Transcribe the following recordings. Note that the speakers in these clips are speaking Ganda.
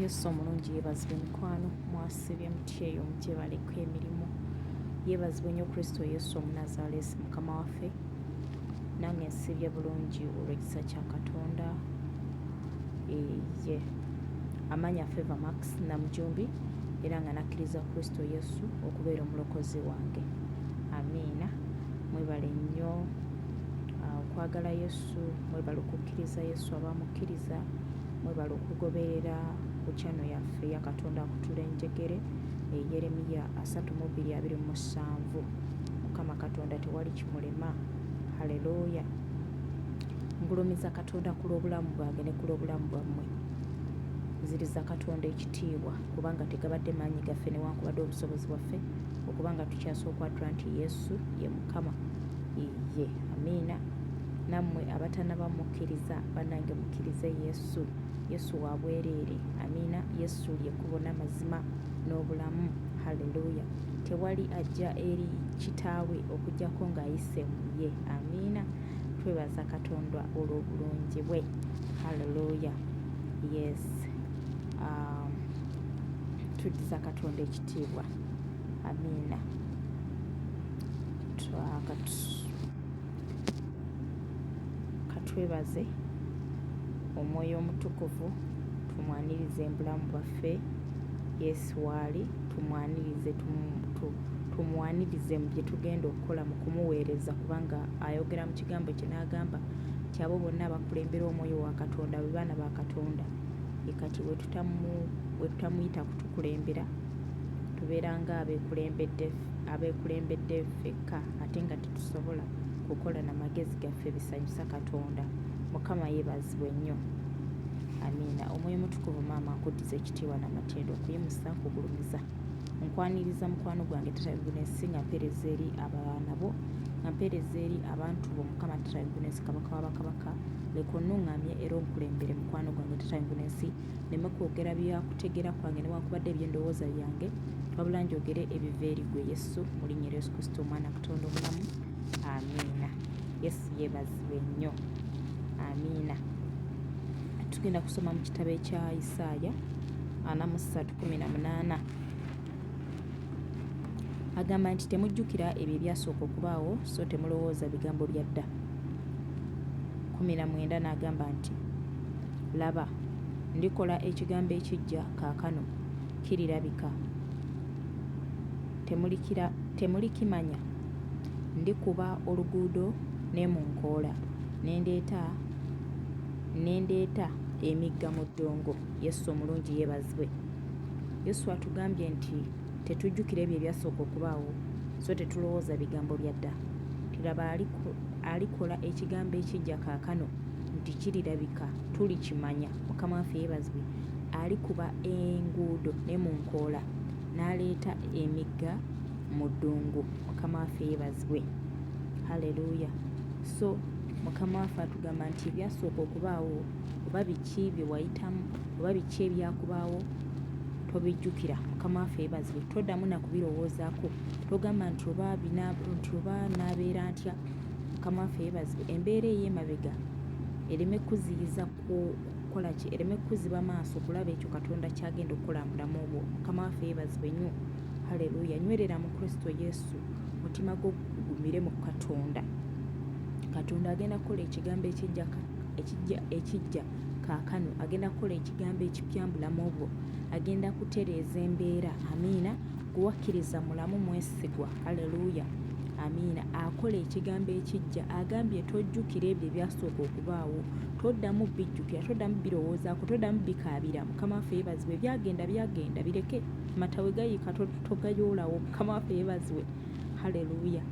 yesu omulungi yebazibwe mikwano mwasibye mutyeyo mugyebaleko emirimu yebazibwe nyo kristo yesu omunazalesi mukama waffe nange nsibye bulungi olwekisa kya katonda eye amanya favor max namujumbi era nga nakkiriza kristo yesu okubeera omulokozi wange amiina mwebale nnyo uh, okwagala yesu yesu mwebale okukkiriza yesu abamukkiriza mwebale okugoberera ku kyano yaffe ya katonda akutula enjegere eyeremiya eh, asatu mu bbiri abiri mu musanvu mukama katonda tewali kimulema haleluya ngulumiza katonda ku lw'obulamu bwange ne ku lw'obulamu bwammwe nziriza katonda ekitiibwa kubanga tegabadde maanyi gaffe newankubadde obusobozi bwaffe okubanga tukyasa okwatula nti yesu ye mukama iye amiina nammwe abatanaba mukkiriza banange mukkirize yesu yesu wa bwereere amiina yesu lyekkubo n'amazima n'obulamu halleluya tewali ajja eri kitaawe okujjako ng'ayise mu ye amiina twebaza katonda olw'obulungi bwe halleluya yes um, tuddiza katonda ekitiibwa amiina twakatu katwebaze omwoyo omutukuvu tumwanirize embulamu bwaffe yesu waali tumwanirize tumwanirize mu bye tugenda okukola mu kumuweereza kubanga ayogera mu kigambo kye n'agamba nti abo bonna abakulembera omwoyo wa katonda be baana ba katonda ekati wetutamuyita kutukulembera tubeera nga abekulembedde fekka ate nga tusobola kukola na magezi gaffe bisanyusa katonda mukama yebazibwe nnyo amiina omwoyo mutukuvu maama nkuddiza ekitiibwa n'amatendo okuyimusa nkugulumiza nkwaniriza mukwano gwange tatagunensi nga mpeereza eri abaana bo nga mpeereza eri abantu bo mukama tatagunensi kabaka wabakabaka leka onuŋŋamye era onkulembere mukwano gwange tatagunensi neme kwogera bya kutegera kwange newankubadde ebyendowooza byange wabula njogere ebiva eri gwe yesu mu linnya lya yesu kristo omwana katonda omulamu amiina yesu yebazibwe nnyo amiina tugenda kusoma mu kitabo ekya isaaya ana mu ssatu kumi na munaana agamba nti temujjukira ebyo ebyasooka okubaawo so temulowooza bigambo bya dda 19 n'agamba nti laba ndikola ekigambo ekijja kaakano kirirabika temulikimanya ndikuba oluguudo ne mu nkoola ne ndeeta emigga mu ddungu yesu omulungi yeebazibwe Yesu atugambye nti tetujjukira ebyo ebyasooka okubaawo, so tetulowooza bigambo bya dda. Tiraba alikola ekigambo ekijja kaakano nti kirirabika, tulikimanya. Mukama waffe yeebazibwe. Alikuba enguudo ne mu nkoola, n'aleeta emigga mu ddungu. Mukama waffe yeebazibwe. Haleluya! So Mukama waffe atugamba nti ebyasooka okubaawo oba biki bye wayitamu oba biki ebyakubaawo tobijjukira mukama waffe yebazibwe toddamu nakubirowoozaako togamba nti oba nti oba naabeera ntya mukama waffe yebazibwe embeera ey'emabega ereme kukuziyiza kukola ki ereme kukuziba maaso kulaba ekyo katonda kyagenda okukola mubulamu obwo mukama waffe yebazibwe nnyo haleluya nywerera mu kristo yesu mutima gwo gugumire mu katonda katonda agenda kukola ekigambo ekijjaka ekijja ekijja kaakano agenda kukola ekigambo ekipya mu bulamu bwo agenda kutereeza embeera amiina gwewakkiriza mulamu mwesigwa aleluuya amiina akola ekigambo ekijja agambye tojjukira ebyo ebyasooka okubaawo toddamu bijjukira toddamu birowoozaako toddamu bikaabira mukama waffe yebaziwe byagenda byagenda bireke matawe gayiika togayoolawo mukama waffe yebaziwe haleluuya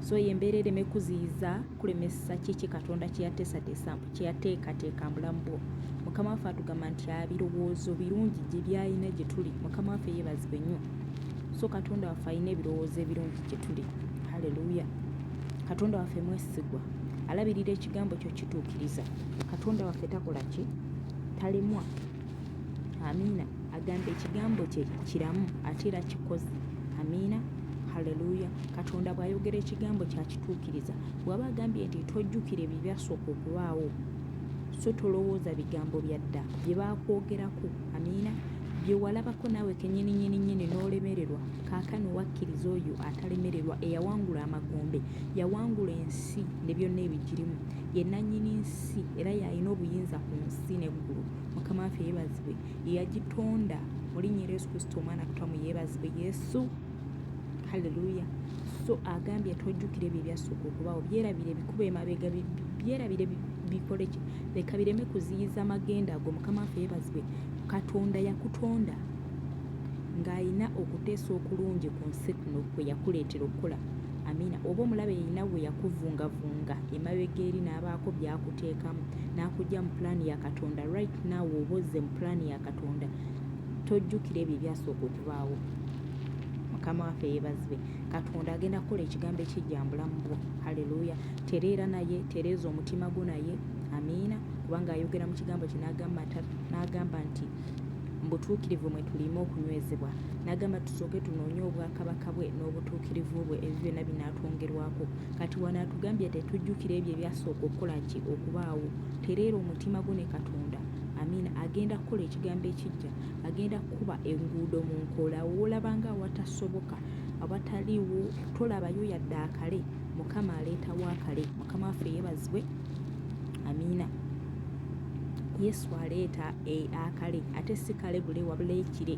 so yembeera ereme kuziyiza kulemesa kiki katonda kyeyateesateesa kyeyateekateeka mbulamu bwo mukama waffe atugamba nti abirowoozo birungi gye byalina gye tuli mukama waffe yeebazibwe nnyo so katonda waffe alina ebirowoozo ebirungi gye tuli haleluya katonda waffe mwesigwa alabirira ekigambo kyo kituukiriza katonda waffe takola ki talemwa amiina agamba ekigambo kye kiramu ate era kikozi amiina haleluya katonda bw'ayogera ekigambo kyakituukiriza bw'aba agambye nti tojjukira ebyo byasooka okubaawo so tolowooza bigambo bya dda bye baakwogerako amiina bye walabako naawe kenyininyininyini n'olemererwa kaakano wakkiriza oyo atalemererwa eyawangula amagombe yawangula ensi ne byonna ebigirimu ye nannyini nsi era yalina obuyinza ku nsi ne waggulu mukama waffe yeebazibwe yeyagitonda mulinnya era yesu kristo omwana kutamu yeebazibwe yesu halleluya so agambye tojjukira ebyo ebyasooka okubaawo byerabira ebikuba emabega byerabire bikole ki leka bireme kuziyiza amagenda ago mukama waffe yeebazibwe katonda yakutonda ng'alina okuteesa okulungi ku nsi kuno kwe yakuleetera okukola Amiina. Oba omulabe yeyina weyakuvungavunga emabega eri nabaako byakuteekamu nakujja mu plan ya Katonda right now woba ozze mu plan ya Katonda tojjukira ebyo ebyasooka okubaawo. Mukama waffe yebazibwe. Katonda agenda kukola ekigambo ekijja mbulamu bwo. Hallelujah. Tereera naye, tereeza omutima gwo naye. Amiina. Kubanga ayogera mu kigambo kye nagamba nti mu butuukirivu mwe tuliima okunywezebwa. N'agamba tusooke tunoonye obwakabaka bwe n'obutuukirivu bwe ebyo byonna binaatwongerwako. Kati wano atugambye tetujjukira ebyo ebyasooka okukola ki okubaawo. Tereera omutima gwo ne Katonda. Amiina. Agenda kukola ekigambo ekiggya. Agenda kukuba enguudo mu nkola. Woolaba nga awatasoboka, awataliwo, tolabayo yadde akale. Mukama aleetawo akale. Mukama waffe yeebazibwe. Amiina. Yesu aleeta e, akale ate si kale bule wabula ekire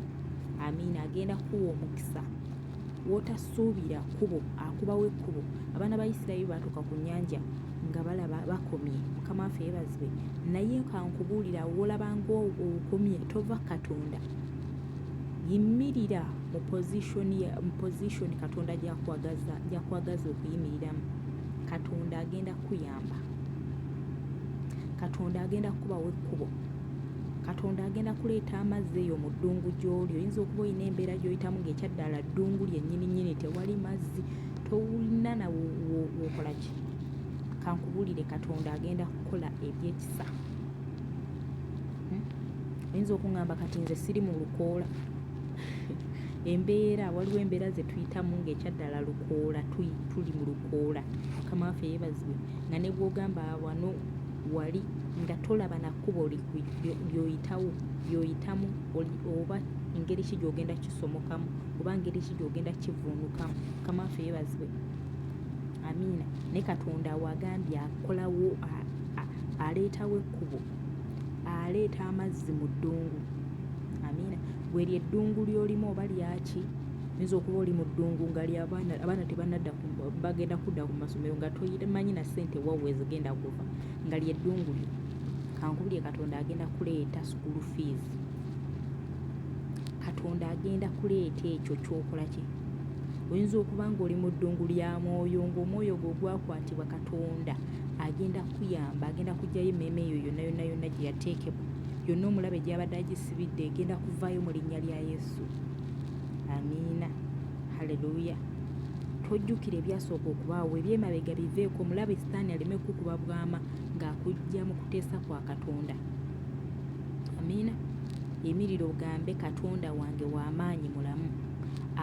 amiina agenda kuwa omukisa wotasuubira kubo akubawo ekkubo abaana ba isirayiri baatuuka ku nyanja nga balaba bakomye mukama waffe yebazibwe naye kankubuulira wolabanga okomye tova katonda yimirira mu pozishoni katonda gyakwagaza okuyimiriramu katonda agenda kuya kugamba katonda agenda kukubawo ekkubo katonda agenda kuleeta amazzi eyo mu ddungu gy'oli oyinza okuba olina embeera gy'oyitamu ng'ekyaddala ddungu lyennyini nnyini tewali mazzi towulina na wokola ki kankubulire katonda agenda kukola ebyekisa hmm? oyinza okuŋamba kati nze siri mu lukoola embeera waliwo embeera zetuyitamu ngaekyaddala lukoola tuli mu lukoola mukama waffe yebazibwe nga nebwogamba wano wali nga tolaba nakkubo lyoyitawo lyoyitamu oba ngeri ki gyogenda kisomokamu oba ngeri ki gyogenda kivuunukamu mukama waffe yebazibwe amiina ne katonda wagambye akolawo aleetawo ekkubo aleeta amazzi mu ddungu amiina gwe lye ddungu lyolimu oba lyaki oyinza okuba oli mu ddungu nga lyabaana abaana tebanadda bagenda kudda ku masomero nga toyimanyi na ssente wawe zigenda kuva nga lye ddungu lyo kankubulye katonda agenda kuleeta school fees katonda agenda kuleeta ekyo kyokola kye oyinza okuba nga oli mu ddungu lya mwoyo ngaomwoyo gwe ogwakwatibwa katonda agenda kuyamba agenda kugyayo emmeeme eyo yonna yonna yonna gye yateekebwa yonna omulabe gy'abadde agisibidde egenda kuvaayo mu linnya lya yesu amiina haleluya tojjukira ebyasooka okubaawo ebyemabega biveeko omulabe sitaani aleme kukuba bwama ng'akujja mu kuteesa kwa katonda amiina emiriro ogambe katonda wange w'amaanyi mulamu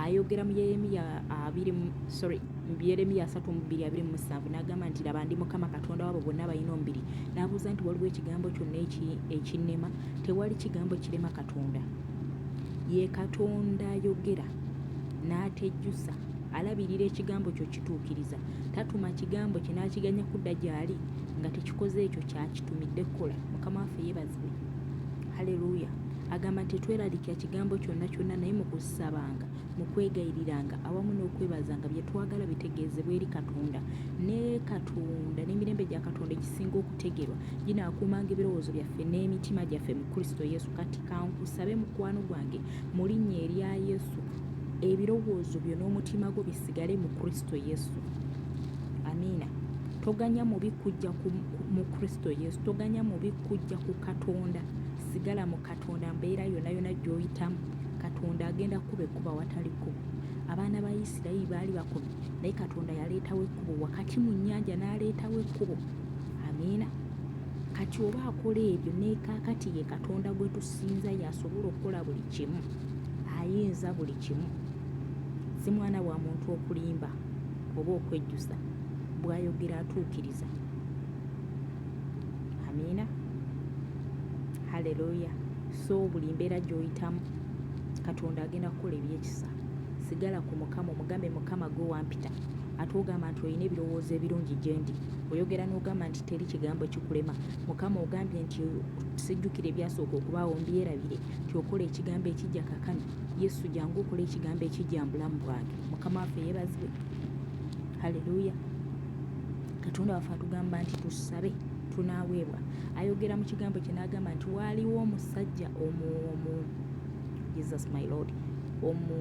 ayogera mu yeremiya abiri sorry mu Yeremiya 3:27 n'agamba nti, Laba, ndi Mukama Katonda w'abo bonna abalina omubiri. N'abuuza nti, Waliwo ekigambo kyonna ekinnema? Tewali kigambo kirema Katonda. Ye Katonda ayogera n'atejjusa, alabirira ekigambo kyo kituukiriza. Tatuma kigambo kye n'akiganya kudda gy'ali nga tekikoze ekyo kyakitumidde kukola. Mukama waffe yeebazibwe. Haleluya! Agamba nti, Tetweraliikira kigambo kyonna kyonna, naye mu kusabanga mu kwegayiriranga awamu n'okwebazanga bye twagala bitegeezebwe eri Katonda. Ne Katonda n'emirembe gya Katonda egisinga okutegerwa ginaakuumanga ebirowoozo byaffe n'emitima gyaffe mu Kristo Yesu. Kati kankusabe mukwano gwange mu linnya erya Yesu ebirowoozo byo n'omutima gwo bisigale mu kristo yesu amiina toganya mubi kujja mu kristo yesu toganya mubi kujja ku katonda sigala mu Katonda mbeera yonna yonna gy'oyitamu Katonda agenda kukuba ekkuba awatali kkubo. Abaana ba Isirayiri baali bakomi naye Katonda yaleetawo ekkubo wakati mu nnyanja n'aleetawo ekkubo. Amiina. Kati oba akola ebyo ne kaakati ye Katonda gwe tusinza y'asobola okukola buli kimu. Ayinza buli kimu. Si mwana wa muntu okulimba oba okwejjusa. Bw'ayogera atuukiriza. Amiina. haleluya so buli mbeera gy'oyitamu katonda agenda kukola ebyekisa sigala ku mukama omugambe mukama gwe wampita ate ogamba nti olina ebirowoozo ebirungi gyendi oyogera n'ogamba nti teri kigambo kikulema mukama ogambye nti sijjukira ebyasooka okubaawo mbyerabire nti okola ekigambo ekijja kakano yesu jangu okola ekigambo ekijja mu bulamu bwange mukama waffe yeebazibwe haleluya katonda waffe atugamba nti tusabe tunaaweebwa ayogera mu kigambo kye n'agamba nti waaliwo omusajja omu omu jesus my lord omu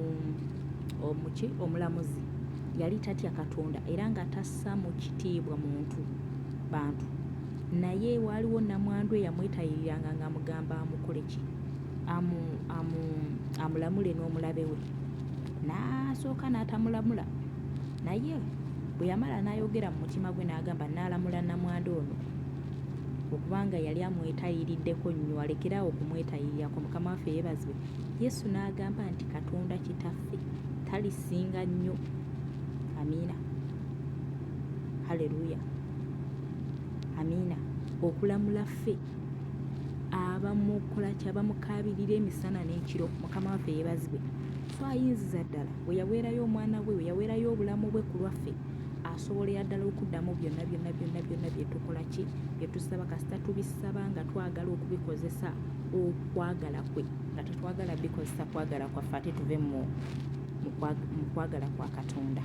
omuki omulamuzi yali tatya katonda era nga tassa mu kitiibwa muntu bantu naye waaliwo namwandu eyamwetayiriranga ng'amugamba amukole ki amulamule n'omulabe we n'asooka n'atamulamula naye bwe yamala n'ayogera mu mutima gwe n'agamba naalamula namwanda ono okubanga yali amwetayiriddeko nnyo alekeraawo okumwetayirirako mukama waffe yeebazibwe yesu n'agamba nti katonda kitaffe talisinga nnyo amiina haleluya amiina okulamula ffe abamukola kyabamukaabirira emisana n'ekiro mukama waffe yeebazibwe so ayinziza ddala we yaweerayo omwana we we yaweerayo obulamu bwe ku lwaffe asobolera ddala okuddamu byonna byonna byonna byonna bye tukola ki bye tusaba kasita tubisaba nga twagala okubikozesa okwagala kwe nga tetwagala bikozesa kwagala kwaffe ate tuve mu kwagala kwa katonda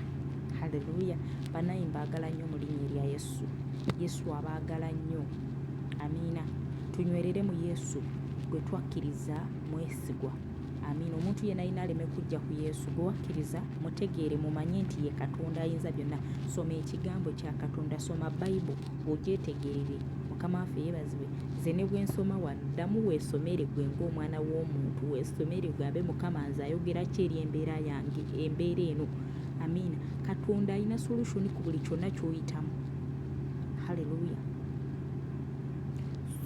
haleluya banaye mbaagala nnyo mu linnya erya yesu yesu abaagala nnyo amiina tunywerere mu yesu gwe twakkiriza mwesigwa Amiina. Omuntu yenna yenna aleme kujja ku Yesu gwe wakkiriza mutegeere mumanye nti ye Katonda ayinza byonna. Soma ekigambo kya Katonda, soma Bible ogyetegerere. Mukama waffe yeebazibwe. Nze ne bwe nsoma wano ddamu weesomere gwe ng'omwana w'omuntu weesomere ogambe Mukama nze ayogera ki eri embeera yange embeera eno. Amiina. Katonda alina solution ku buli kyonna ky'oyitamu. Hallelujah.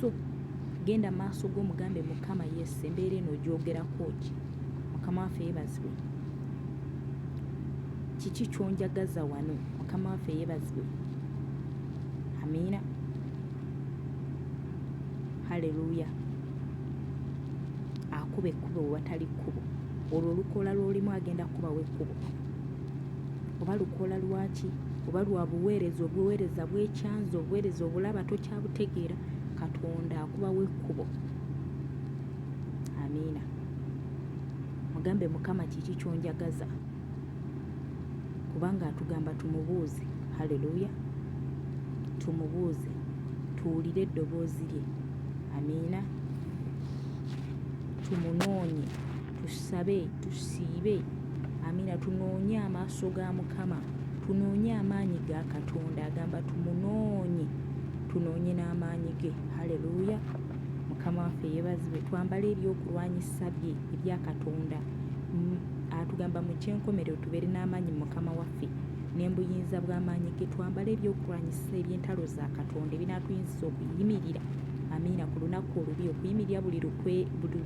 So Genda maaso go mugambe mukama yes embeera eno ogyogerakooki mukama waffe yebazibwe kiki kyonjagaza wano mukama waffe yebazibwe amiina haleluya akuba ekkubo wewatali kkubo olwo olukoola lwolimu agenda kukubawo ekkubo oba lukoola lwaki oba lwa buweereza obuweereza bwekyanza obuweereza obulaba tokyabutegeera katonda akubawo ekkubo amiina mugambe mukama kiki kyonjagaza kubanga atugamba tumubuuze haleluya tumubuuze tuwulire eddoboozi lye amiina tumunoonye Tusabe, tusiibe, amina, tunoonye amaaso ga Mukama, tunoonye amaanyi ga Katonda, agamba tumunoonye, tunoonye n'amaanyi ge. Haleluya! Mukama waffe yeebazibwe, twambale ebyokulwanyisa bye ebya Katonda. Atugamba mu ky'enkomerero tubeere n'amaanyi mu Mukama waffe ne mu buyinza bw'amaanyi ge, twambale ebyokulwanyisa eby'entalo za Katonda ebinaatuyinziza okuyimirira, amiina, ku lunaku olubi, okuyimirira buli lukwe, buli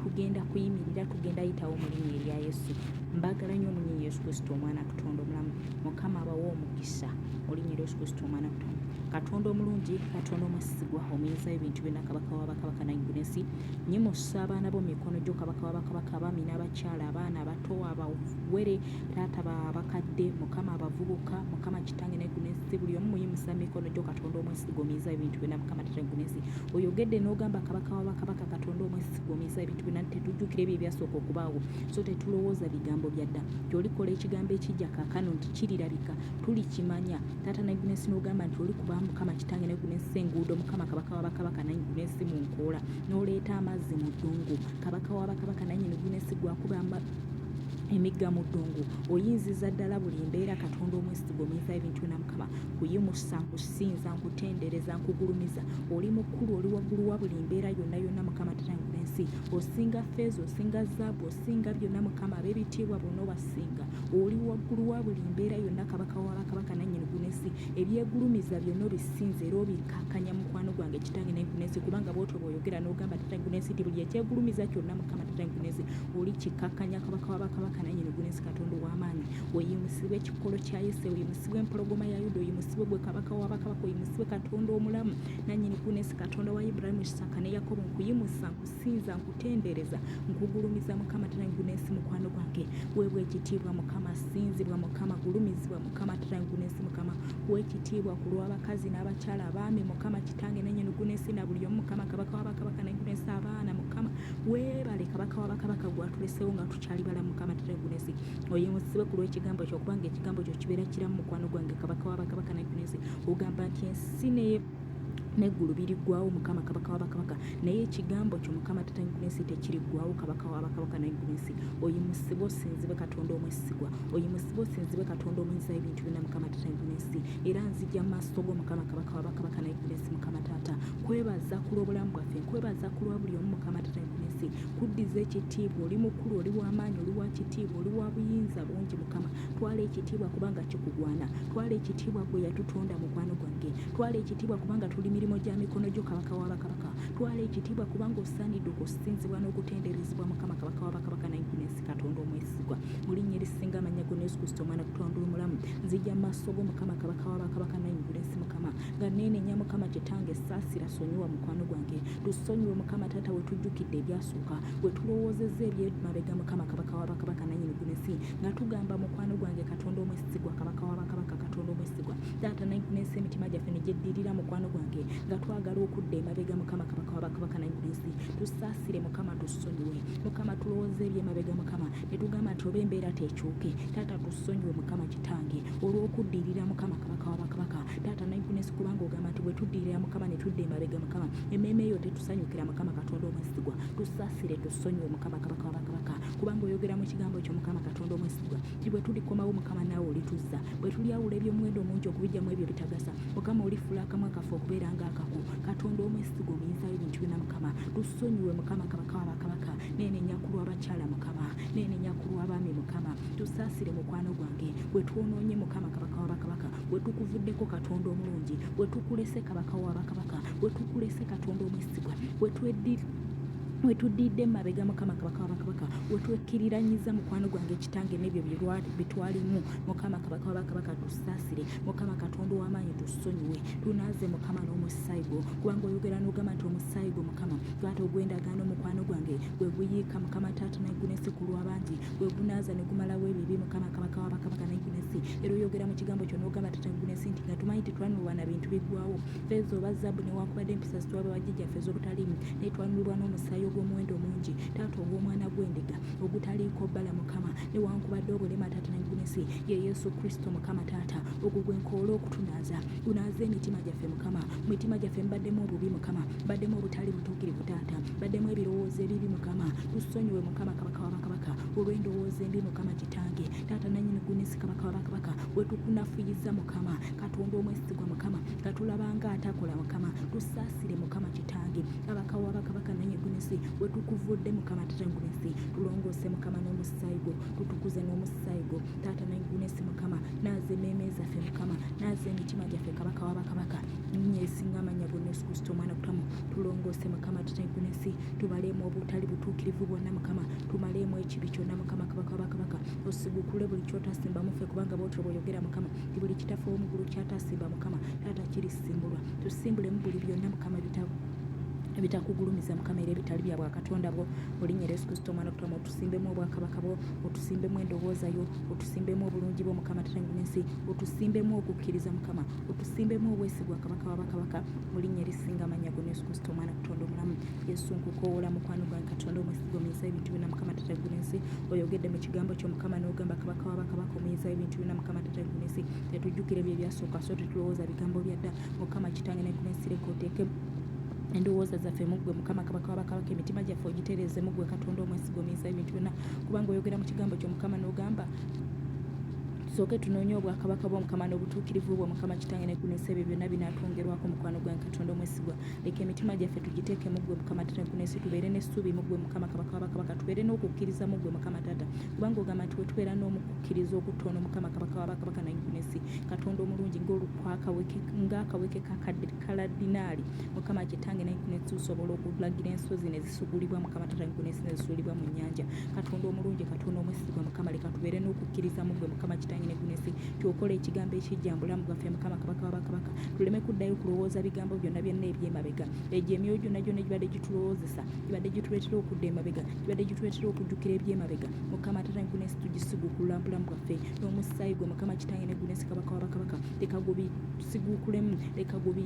tugenda kuyimirira tugenda yitawo mu linnya erya yesu mbagala nnyo omunyi yesu kristo omwana katonda omulamu mukama abawa omukisa olinnya erya yesu kristo omwana katonda katonda omulungi katonda omwesigwa omuyinza ebintu byonna kabaka wabakabaka naigulu ensi nyimusa abaana bo mumikono gyo kabaka wabakabaka abaami n'abakyala abaana abato abawere taata babakadde mukama abavubuka mukama kitange naigulu ensi buli omu muyimusa mumikono gyo katonda omwesigwa omuyinza ebintu byonna mukama tata naigulu ensi oyogedde n'ogamba kabaka wabakabaka katonda omwesigwa omuyisa ebintu byona tetujjukira ebyo ebyasooka okubaawo so tetulowooza bigambo byadda tyolikola ekigambo ekijja kakano nti kirirabika tulikimanya taata nagunensi nogamba nti olikuba mukama kitange nagunensi enguudo mukama kabaka wabakabaka nagunensi mu nkoola noleeta amazzi mu ddungu kabaka wabakabaka nanye nagunensi gwakuba emigga mu ddungu oyinziza ddala buli mbeera katonda omwesigwa omuyinza ebintu byona mukama kuyimusa nkusinza nkutendereza nkugulumiza oli mukulu oli waggulu wa buli mbeera yonna yonna mukama tatangula ensi osinga feeza osinga zaabu osinga byonna mukama ab'ebitiibwa bonna obasinga oli waggulu wa buli mbeera yonna kabaka wabakabaka nannyini gunensi ebyegulumiza byonna obisinza era obikakanya mukwano gwange kitange naye gunensi kubanga bwotyo bwoyogera n'ogamba tatange gunensi ti buli ekyegulumiza kyonna mukama tatange gunensi oli kikakanya kabaka wabakabaka nannyini gunensi katonda ow'amaanyi oyimusibwe ekikolo kya yese oyimusibwe empologoma ya yuda oyimusibwe gwe kabaka wabakabaka oyimusibwe katonda omulamu nanyini kunesi katonda wa iburahimu isaka ne yakobo nkuyimusa nkusinza nkutendereza nkugulumiza mukama tirangunensi mukwano gwange webwa ekitiibwa mukama sinzibwa mukama gulumizibwa mukama tirangunensi mukama kuwa ekitiibwa ku lw'abakazi n'abakyala abaami mukama kitange nanyini kunesi na buli omu mukama kabaka wabakabaka nangunensi abaana mukama webale kabaka wabakabaka gwatulesewo nga tukyali bala mukama tirangunensi oyimusibwe ku lw'ekigambo kyo kubanga ekigambo kyo kibeera kiramu mukwano gwange kabaka wa bakabaka nakunensi ogamba nti ensi neye neggulu biriggwawo mukama kabaka wabakabaka naye ekigambo kyo mukama tatanyikunensi tekiriggwawo kabaka wabakabaka nagunensi oyimusibwe osinzibwe katonda omwesigwa oyimusibwe osinzibwe katonda omuyinza ebintu byona mukama tatanyikunensi era nzija maaso go mukama kabaka wabakabaka nagunensi mukama taata kwebaza kulwobulamu bwaffe nkwebaza kulwa buli omu mukama tatanyikunensi kuddiza ekitiibwa oli mukulu oli wamaanyi oli wakitiibwa oli wa buyinza bungi mukama twala ekitiibwa kubanga kikugwana twala ekitiibwa gwe yatutonda mukwano gwange twala ekitiibwa kubanga tuli mirimu gya mikono gyo kabaka wa bakabaka twala ekitiibwa kubanga osaanidde okusinzibwa n'okutenderezebwa mukama kabaka wa bakabaka nayinesi katonda omwesigwa mu linnya erisinga amannya gona yesu kristo omwana kutonda omulamu nzija mu maaso go mukama kabaka wa bakabaka nayinesi mukama nga neenenya mukama kitange saasira sonyiwa mukwano gwange Tusonyiwe Mukama Taata wetujjukidde ebyasooka, wetulowoozezza ebyemabega Mukama Kabaka wa Bakabaka nanyini gunesi nga tugamba mukwano gwange Katonda omwesigwa Kabaka wa Bakabaka Katonda omwesigwa Taata nayinesi emitima gyaffe negyeddirira mukwano gwange nga twagala okudda emabega Mukama Kabaka wa Bakabaka nayinesi tusaasire Mukama tusonyiwe Mukama tulowooza ebyemabega Mukama netugamba nti oba embeera tekyuke Taata tusonyiwe Mukama Kitange olw'okuddirira Mukama Kabaka wa Bakabaka taata mindfulness kubanga ogamba nti bwetuddirira mukama netudda emabega mukama emmeeme eyo tetusanyukira mukama katonda omwesigwa tusasire tusonyiwe mukama kabaka wabakabaka kubanga oyogera mu kigambo ekyo mukama katonda omwesigwa ti bwetulikomawo mukama naawe olituzza bwetulyawula ebyomuwendo omungi okubijjamu ebyo bitagasa mukama olifula akamwa kaffe okubeera nga akako katonda omwesigwa omuyinzayo ebintu byona mukama tusonyiwe mukama kabaka wabakabaka nenenya kulwabakyala mukama nenenya kulwabaami mukama tusasire mukwano gwange bwetwonoonye mukama kabaka wabakabaka wetukuvuddeko katonda omulungi wetukulese kabaka wa bakabaka wetukulese katonda omwesigwa wetwediri wetudidde mabega mukama kabaka wabakabaka wetwekkiriranyiza mukwano gwange ekitange n'ebyo bitwalimu mukama kabaka wabakabaka tusaasire mukama katonda ow'amaanyi tusonyiwe tunaaze mukama n'omusaayi gwo kubanga oyogera n'ogamba nti omusaayi gwo mukama twata ogw'endagaano mukwano gwange gwe guyiika mukama taata naggulesi ku lw'abangi wegunaaza ne gumalawo ebibi mukama kabaka wa bakabaka naginesi era oyogera mu kigambo kyo n'ogamba tata gunesi nti nga tumanyi tetwanulwa na bintu biggwawo feeza oba zaabu newankubadde empisa zitwaba bajjajjaffe ez'obutaliimu naye twanulibwa n'omusaayi ogw'omuwendo omungi taata ogw'omwana gw'endiga ogutaliiko bbala mukama newankubadde obulema taata naginesi ye yesu kristo mukama taata ogwo gwe nkoola okutunaaza gunaaza emitima gyaffe mukama mu mitima gyaffe mbaddemu obubi mukama mbaddemu obutali butuukirivu taata mbaddemu ebirowoozo ebibi mukama tusonyiwe mukama kabaka wabakabaka olw'endowooza embi mukama kitange taata nanyini gunisi kabaka wabakabaka wetukunafuyiza mukama katonda omwesigwa mukama katulabanga atakola mukama tusaasire mukama kitange kabaka wabakabaka nanye gunisi wetukuvudde mukama tata gunisi tulongoose mukama n'omusaayi gwo tutukuze n'omusaayi gwo taata nanye gunisi mukama naaza emeeme zaffe mukama naaza emitima gyaffe kabaka wabakabaka nyesinga amanya gunisi kusita omwana kutamu tulongoose mukama tata gunisi tubaleemu obutali butuukirivu bwonna mukama tumaleemu ekibi kyonna mukama kabaka wabakabaka osigukule buli kyotasimba mufe kubanga bwotyo bwoyogera mukama ti buli kitaffe womugulu kyatasimba mukama taata kirisimbulwa tusimbulemu buli byonna mukama bitabu ebitakugulumiza mukama era ebitali bya bwakatonda bwo olinyera yesu kristo omwana kutama otusimbemu obwakabaka bwo otusimbemu endowooza yo otusimbemu obulungi bwo mukama tatangunensi otusimbemu okukkiriza mukama otusimbemu obwesigwa kabaka wa bakabaka mu linnya erisinga amannya gona yesu kristo omwana katonda omulamu yesu nkukoola mukwano gwange katonda omwesigwa omuyinza ebintu byonna mukama tata guna ensi oyogedde mu kigambo kyo mukama n'ogamba kabaka wa bakabaka omuyinza ebintu byonna mukama tata guna ensi tetujjukira ebyo ebyasooka so tetulowooza bigambo byadda mukama kitange ne guna ensi leka oteeke endowooza zaffe muggwe mukama kabaka wabakabaka emitima gyaffe ogitereeze muggwe katonda omwesiga omuyisa ebintu byonna kubanga oyogera mu kigambo kyo mukama n'ogamba Tusooke tunoonye obwakabaka bwa Mukama n'obutuukirivu bwo Mukama Kitange ne kuneesa ebyo byonna binaatwongerwako mukwano gwa Katonda omwesigwa. Leka emitima gyaffe tugiteeke mu ggwe Mukama Taata ne kuneesi tubeere n'essuubi mu ggwe Mukama Kabaka w'abakabaka tubeere n'okukkiriza mu ggwe Mukama Taata kubanga ogamba nti wetubeera n'omukukkiriza okutono Mukama Kabaka w'abakabaka naye kuneesi Katonda omulungi ng'akaweke kakadde kaladinaali Mukama Kitange naye kuneesi tusobola okulagira ensozi ne sugulibwa mukama tata gwe n'ensi nezisulibwa mu nnyanja katonda omulungi katonda omwesigwa mukama leka tubeere n'okukkiriza mu gwe mukama kitange ne gunesi tyokola ekigambo ekijja mbulamu bwaffe mukama kabaka wabakabaka tuleme kuddayo kulowooza bigambo byonna byonna eby'emabega egyo emyoyo gyonna gyonna gibadde gitulowoozesa gibadde gituleetera okudda emabega gibadde gituleetera okujjukira eby'emabega mukama tata ne gunesi tugisiguukulula mbulamu bwaffe n'omusaayi gwe mukama kitange ne gunesi kabaka wabakabaka leka gubisiguukulemu leka gubi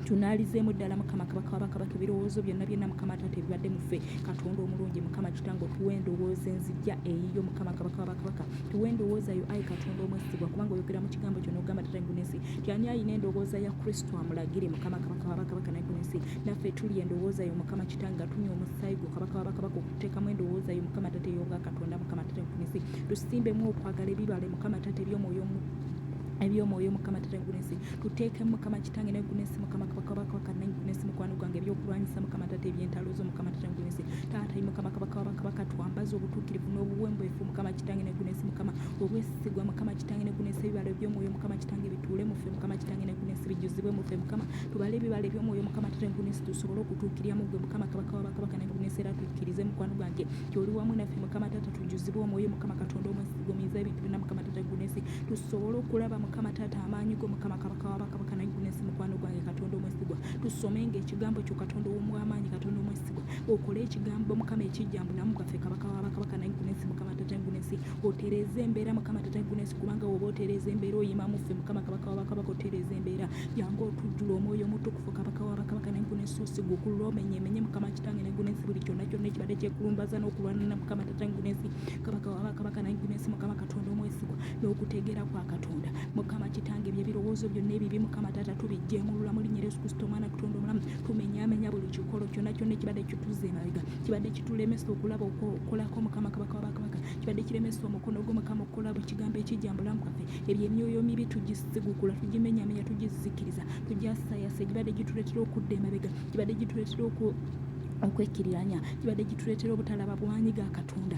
tunaalizeemu ddala mukama kabaka wabakabaka ebirowoozo byonna byonna mukama taata ebibadde muffe katonda omulungi mukama kitange otuwa endowooza enzijja eyiyo mukama kabaka wabakabaka tuwa endowooza yo ayi katonda omwesigwa kubanga oyogera mu kigambo kyo nogamba tata ngunensi tyani ayina endowooza ya kristo amulagire mukama kabaka wabakabaka nagunensi naffe tuli endowooza yo mukama kitange atunya omusaayi gwo kabaka wabakabaka okuteekamu endowooza yo mukama tata eyobwa katonda mukama tata ngunensi tusimbemu okwagala ebibale mukama tata ebyomwoyo ebyomwoyo mukama tata gulensi tuteekemu mukama kitange naye gulensi mukama kabaka wakananyi gulensi mukwano gwange ebyokulwanyisa mukama tata ebyentalo zo mukama tata gulensi taata mukama kabaka wabakabaka twambaza obutuukirivu n'obuwembeefu mukama kitange ne gulensi mukama obwesigwa mukama kitange ne gulensi ebibalo ebyomwoyo mukama kitange bituule mufe mukama kitange ne gulensi bijuzibwe mufe mukama tubale ebibalo ebyomwoyo mukama tata gulensi tusobole okutuukirira mugwe mukama kabaka wabakabaka ne gulensi era tukkirize mukwano gwange kyoli wamu naffe mukama tata tujuzibwe omwoyo mukama katonda omwesigwa omiza ebintu byonna mukama tata gulensi tusobole okulaba mukama taata amaanyi go mukama kabaka wabakabaka naye gunensi mukwano gwange katonda omwesigwa tusomenga ekigambo kyo katonda owomwamaanyi katonda omwesigwa okole ekigambo mukama ekijjambu namu bwaffe kabaka wabakabaka naye gunensi mukama taata gunensi otereeze embeera mukama taata gunensi kubanga woba otereeza embeera oyima muffe mukama kabaka wabakabaka otereeza embeera jangu otujjula omwoyo omutukufu kabaka wabakabaka naye gunensi osigwa okulula omenye emenye mukama kitange naye gunensi buli kyonna kyonna ekibadde kyekulumbaza n'okulwanana mukama taata gunensi kabaka wabakabaka naye gunensi mukama katonda omwesigwa n'okutegeera kwa katonda mukama kitange bye birowoozo byonna ebibi mukama taata tubijjengulula mu linnya yesu kristo omwana katonda omulamu tumenyamenya buli kikolo kyonna kyonna ekibadde kituze emabega kibadde kitulemesa okulaba okolako mukama kabaka wabakabaka kibadde kiremesa omukono gwo mukama okukola buli kigambo ekijja mu bulamu bwaffe ebyo emyoyo mibi tugisigukula tugimenyamenya tugizikiriza tugyasayasa egibadde gituleetera okudda emabega gibadde gituleetera oku okwekiriranya gibadde gituleetera obutalaba bwanyi ga katonda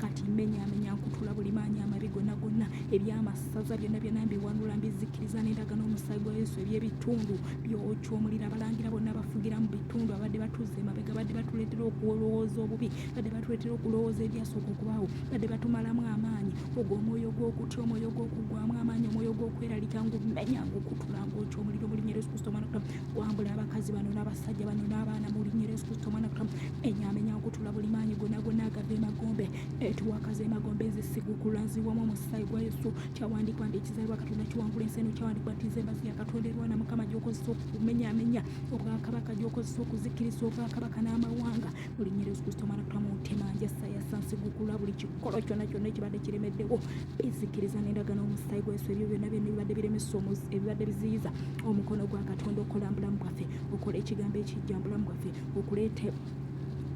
kati mmenyaamenya nkutula buli maanyi amabi gonna gonna eby'amasaza byonna byonna mbiwanula mbizikkiriza n'endaga n'omusaayi gwa yesu eby'ebitundu byokya omuliro abalangira bonna bafugira mu bitundu abadde batuuza emabega badde batuleetera okulowooza obubi badde batuleetera okulowooza ebyasooka okubaawo badde batumalamu amaanyi ogwo omwoyo gw'okutya omwoyo gw'okugwamu amaanyi omwoyo gw'okweralika ngumenya ngukutula ngokya omuliro mu linnya lyesu kristo omwana kutamu gwambula abakazi bano n'abasajja bano n'abaana mu linnya lyesu kristo omwana kutamu enyamenya okutula buli maanyi gona gona agava emagombe etuwakaza emagombe ezisigu kulanzibwamu omusaayi gwa yesu kyawandiikwa nti ekizaalibwa katonda kiwangula ensi eno kyawandiikwa nti nze embazi ya katonda erwana mukama gyokozesa okumenyamenya obwakabaka gyokozesa okuzikiriza obwakabaka n'amawanga buli nyeri yesu kristo omwana kutama omutima njasa yasansigukula buli kikolo kyonna kyonna ekibadde kiremeddewo bizikiriza n'endagano omusaayi gwa yesu ebyo byonna byonna ebibadde biremesa ebibadde biziyiza omukono gwa katonda okola mbulamu bwaffe okola ekigambo ekijja mbulamu bwaffe okuleeta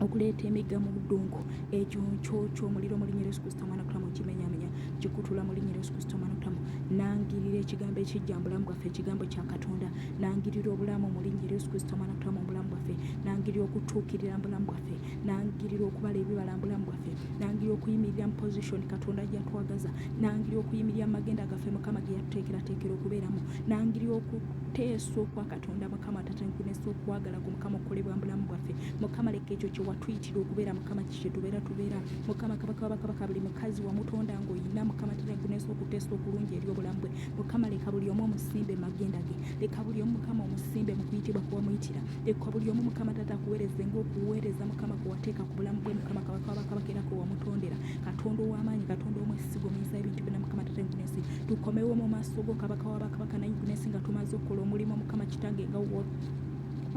okuleeta emigga mu ddungu ekyo nkyokyo omuliro mu linnya Yesu Kristo omwana kutamu kimenyamenya kikutula mu linnya Yesu Kristo omwana kutamu nangirira ekigambo ekijja mubulamu bwaffe ekigambo kya Katonda nangirira obulamu mu linnya Yesu Kristo omwana kutamu obulamu bwaffe nangirira okutuukirira mubulamu bwaffe nangirira okubala ebibala mubulamu bwaffe nangirira okuyimirira mu position Katonda gyatwagaza nangirira okuyimirira mu magenda gaffe Mukama ge yatuteekerateekera okubeeramu nangirira okuteesa okwa katonda mukama tatankunesa okwagala ku mukama okukolebwa mubulamu bwaffe mukama leka ekyo kyewatuyitira okubeera mukama kikyetubeera tubeera mukama kabaka wabakabaka buli mukazi wamutonda ngaoyina mukama tatankunesa okuteesa okulungi eri obulamu bwe mukama leka buli omu omusimbe magenda ge leka buli omu mukama omusimbe mukuyitibwa kuwamuyitira leka buli omu mukama tata akuweereze ngaokuweereza mukama kuwateeka ku bulamu bwe mukama kabaka wabakabaka era kwewamutondera katonda ow'amaanyi katonda omwesiga omuyisa ebintu byona mukama tatankunesa tukomewo mu maaso go kabaka wa bakabaka naye gunesi nga tumaze okukola omulimu mukama kitange nga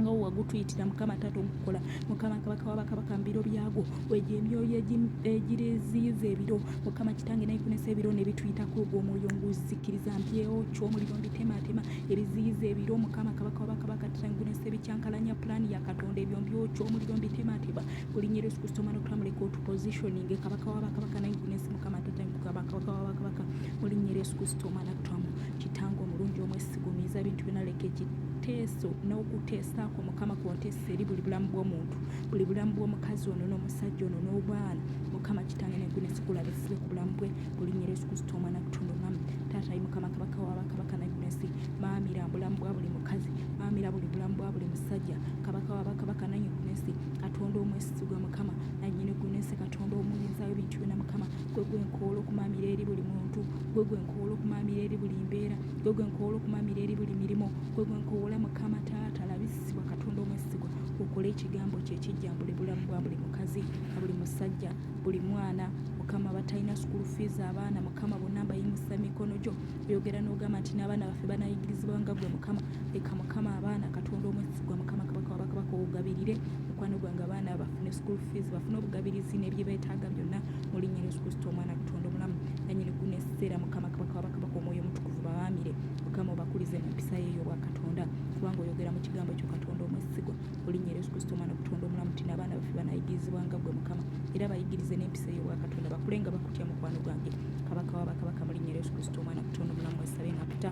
nga wagutuyitira mukama taata omukukola mukama kabaka wabakabaka mubiro byagwo wegyo emyoyo egiriziyiza ebiro mukama kitange naikunesa ebiro nebituyitako ogwo omwoyo nguzikiriza mpyewo kyomuliro mbitematema ebiziyiza ebiro mukama kabaka wabakabaka tatangunesa ebikyankalanya pulaani ya katonda ebyo mbyokyomuliro mbitematema kulinya Yesu Kristo mwana okutula muleka otu positioning kabaka wa bakabaka naye gunesi mukama tata kabaka kabaka wa bakabaka kulinya Yesu Kristo mwana okutula mu kitango omulungi omwesigumiza bintu byona leka ekiteeso n'okuteesaako mukama kwonteesa eri buli bulamu bw'omuntu buli bulamu bw'omukazi ono n'omusajja ono n'obwana mukama kitange negunesi kulabisibe ku bulamu bwe kulinya Yesu Kristo mwana okutula omwami taata yi mukama kabaka wa bakabaka naye gunesi maamira bulamu bwa buli mukazi maamira buli bulamu bwa buli musajja kabaka wa bakabaka naye gunesi katonda omwesigwa mukama nanyini gunensi katonda omuyinzayo ebintu byona mukama gwe gwenkoola okumamira eri buli muntu gwe gwenkoola okumamira eri buli mbeera gwe gwenkoola okumamira eri buli mirimu gwe gwenkoola mukama taata labisibwa katonda omwesigwa okole ekigambo kye kijjambule bulamu bwa buli mukazi na buli musajja buli mwana mukama batalina sukulu fiizi abaana mukama bonna mbayimusa mikono gyo oyogera n'ogamba nti n'abaana baffe banayigirizibwa nga gwe mukama leka mukama abaana katonda omwesigwa mukama kabaka wabakabaka ogabirire mukwano gwange abaana bafune school fees bafune obugabirizi nebyebetaaga byonna mulinya yesu kristo omwana katonda omulamu nanyini guno ekiseera mukama kabaka wabakabaka omwoyo omutukuvu bawaamire mukama obakulize mu mpisa yeeyo obwa katonda kubanga oyogera mu kigambo ekyo katonda omwesigwa olinnya yesu kristo omwana okutonda omulamu tina abaana baffe banayigirizibwa nga gwe mukama era bayigirize n'empisa eyo bwakatonda bakule nga bakutya mukwano gwange kabaka wa bakabaka mulinnya yesu kristo omwana okutonda omulamu wesabe nga kuta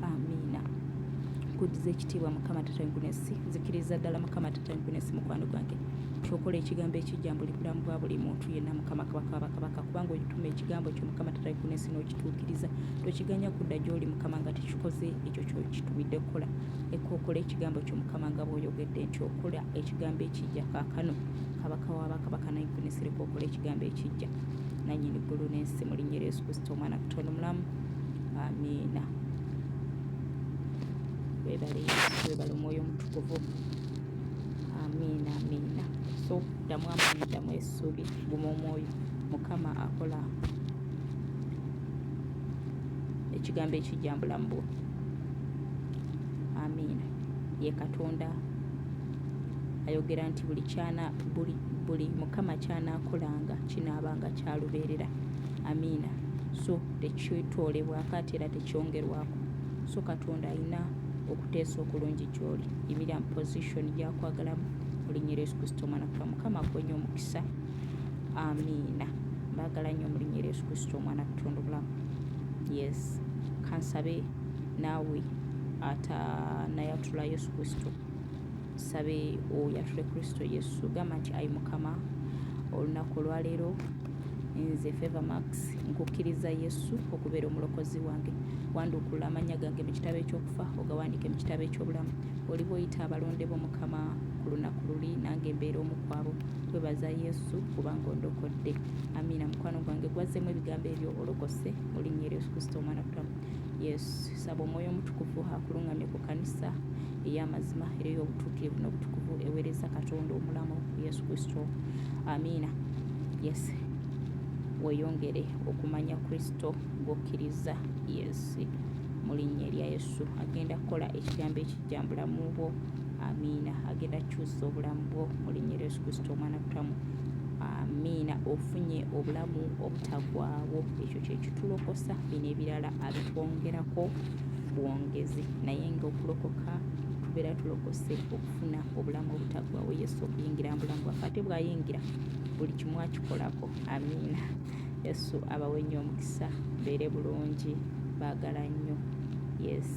amiina kudiza ekitiibwa mukama tatangunesi nzikiriza ddala mukama tatangunesi mukwano gwange kyokola ekigambo ekijja mbuli bulamu bwa buli muntu yenna mukama kabaka wabakabaka kubanga oyituma ekigambo kyo mukama tatangunesi n'okituukiriza tokiganya kudda gy'oli mukama nga tekikoze ekyo kyokitumidde kukola Ekkookolo ekigambo ky'Omukama nga bw'oyogedde nti okola ekigambo ekijja kaakano. Kabaka wa bakabaka n'ayivunisira ekkookolo ekigambo ekijja. Nannyini ggulu n'ensi mu linnya Yesu Kristo omwana Katonda omulamu. Amiina. Weebale Yesu, weebale omwoyo omutukuvu. Amiina, amiina. So ddamu amaanyi, ddamu essuubi, guma omwoyo. Mukama akola ekigambo ekijja mu bulamu bwo. amiina ye katonda ayogera nti buli kyana buli buli mukama kyanakolanga kinaabanga kyalubeerera amiina so tekyetoolebwako ate era tekyongerwako so katonda alina okuteesa okulungi gyoli yimira mu position gyakwagalamu olinyira yesu kristo omwana kuba mukama akuwenyo omukisa amiina mbagala nnyo mulinya eryesu kristo omwana kutonda obulamu yes kansabe naawe atanayatula yesu kristo sabe oyatule kristo yesu gamba nti ayi mukama olunaku olwaleero nze favor max nkukkiriza yesu okubeera omulokozi wange wanduukulula amannya gange mu kitabo ekyokufa ogawandiike mu kitabo ekyobulamu oliba oyita abalonde bo mukama ku lunaku luli nange mbeera omukwabo kwebaza yesu kubanga ondokodde amiina mukwano gwange gwazzemu ebigambo ebyo olokose mu linnya eryo yesu kristo omwana kutamu yesu saba omwoyo omutukuvu akulungamye ku kanisa ey'amazima era ey'obutuukirivu n'obutukuvu eweereza katonda omulamu yesu kristo amiina yes weyongere okumanya kristo gwokkiriza yesu mu linnya erya yesu agenda kukola ekigambo ekijjambulamu bwo amiina agenda kukyusa obulamu bwo mu linnya lya yesu kristo omwana kutamu amiina ofunye obulamu obutagwawo ekyo kyekitulokosa bino ebirala abitwongerako bwongezi naye nga okulokoka tubeera tulokose okufuna obulamu obutagwawo yesu okuyingira mubulamu bwaffe ate bwayingira buli kimu akikolako amiina yesu abawe nnyo omukisa beere bulungi baagala nnyo yes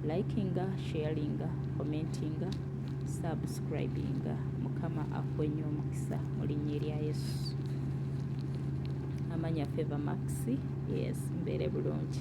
likinga sharinga commentinga subscribinga mukama akwenye omukisa mu linnya erya yesu amanya feva maxi yes mbeere bulungi